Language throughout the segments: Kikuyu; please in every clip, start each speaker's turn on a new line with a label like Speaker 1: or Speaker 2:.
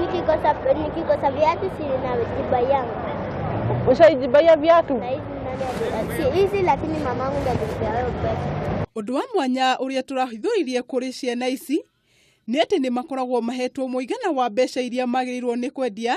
Speaker 1: Nikikosa nikikosa viatu si najibaia nguo. Ushaijibaia viatu? Na hizi nani ali- si hizi lakini mamangu ndiye alinipea hayo pesa. Ũndũ wa mwanya ũrĩa tũrahithũririe kũrĩ ciana ici nĩ atĩ nĩ makoragwo mahetwo mũigana wa mbeca iria magĩrĩirwo nĩ kwendia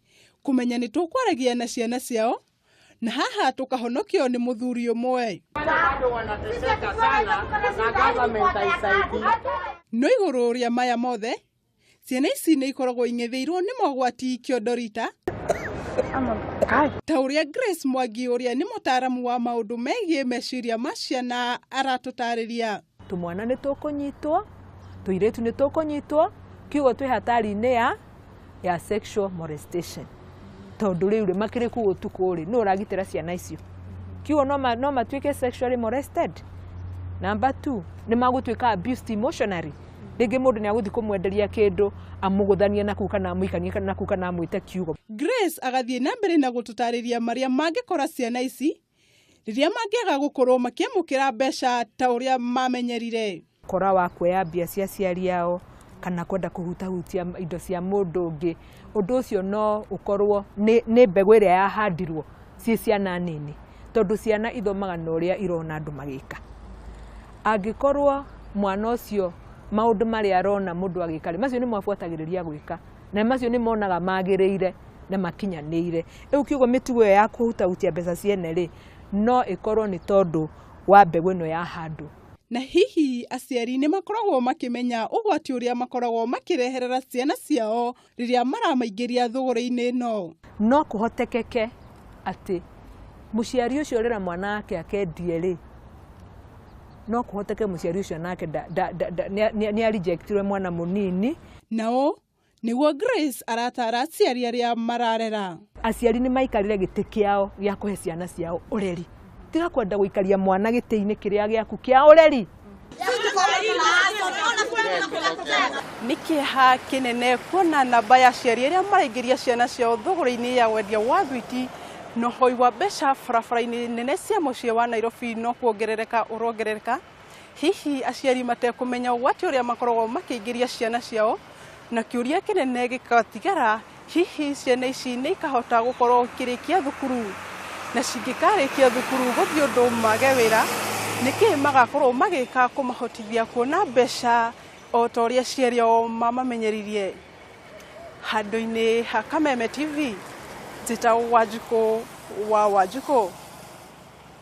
Speaker 1: kũmenya nĩ tũkwaragia na ciana ciao na haha tũkahonokio nĩ mũthuri ũmwe no igũrũ rĩa maya mothe ciana ici nĩ ikoragwo ing'ethĩirwo nĩ mogwati kĩondorita ta ũrĩa Grace Mwangi ũrĩa nĩ mũtaaramu wa maũndũ megiĩ meciria ma ciana aratũtarĩria Tũmwana nĩ tũkũnyitwo, tũirĩtu nĩ tũkũnyitwo, kiugo twĩ hatari-inĩ ya ya sexual molestation tondũ rĩu rĩ makĩrĩ kuu ũtukũ rĩ nũ ũragitĩra ciana icio kiugo no, ma, no matuĩke sexually molested number two nĩ magũtuĩka abused emotionally rĩngĩ mũndũ nĩ agũthiĩ kũmwenderia kĩndũ amũgũthanie na kuu kana amũikanie na kuu kana amwĩte kiugo Grace agathiĩ na mbere na gũtũtaarĩria marĩa mangĩkora ciana ici rĩrĩa mangĩaga gũkorwo makĩamũkĩra mbeca ta ũrĩa mamenyerire. Kora wa kuoya mbia cia aciari ao kana kwenda kũhutahutia indo cia mũndũ ũngĩ, ũndũ ũcio no ũkorwo nĩ, nĩ mbegũ ĩrĩa yahandirwo ciĩ ciana nini, tondũ ciana ithomaga na ũrĩa irona andũ magĩka. Angĩkorwo mwana ũcio maũndũ marĩa arona mũndũ agĩka rĩ, macio nĩmo abuatagĩrĩria gwĩka. na macio nĩ monaga magĩrĩire na makinyanĩire. Rĩu kiugo mĩtugo ĩyo ya kũhutahutia mbeca ciene rĩ, no ĩkorwo nĩ tondũ wa mbegũ ĩno yahandwo. Na hihi aciari nĩ makoragwo makĩmenya ũgwati ũrĩa makoragwo makĩreherera ciana ciao rĩrĩa maramaingĩria thũgũrĩ-inĩ ĩno? No kũhotekeke atĩ mũciari ũcio ũrera mwana wake akendie rĩ, no kũhoteke mũciari ũcio nake nĩ a rejectirwo e mwana mũnini. na ũũ nĩguo Grace arataara aciari arĩa mararera. Aciari nĩ maikarĩre gĩtĩ kĩao gĩa kũhe ciana ciao ũreri. Tiga kwenda gũikaria mwana gĩtĩ-inĩ kĩrĩa gĩaku kĩa ũreri. Nĩ kĩeha kĩnene kuona namba ya aciari arĩa maraingĩria ciana ciao thũgũrĩ-inĩ ya wendia wa thwiti na ũhoi wa mbeca barabara-inĩ nene cia mũciĩ wa Nairobi no kuongerereka ũrongerereka. Hihi aciari matekũmenya ũgwati ũrĩa makoragwo makĩingĩria ciana ciao, na kĩũria kĩnene gĩkatigara, hihi ciana ici nĩ ikahota gũkorwo ikĩrĩkia thukuru? Na cingĩkarĩkia thukuru gũthiĩ ũndũ mage wĩra, nĩkĩ magakorwo magĩka kũmahotithia kuona mbeca o ta ũrĩa aciari ao mamamenyeririe? Handũ-inĩ ha Kameme TV, njĩtagwo Wanjikũ wa Wanjikũ.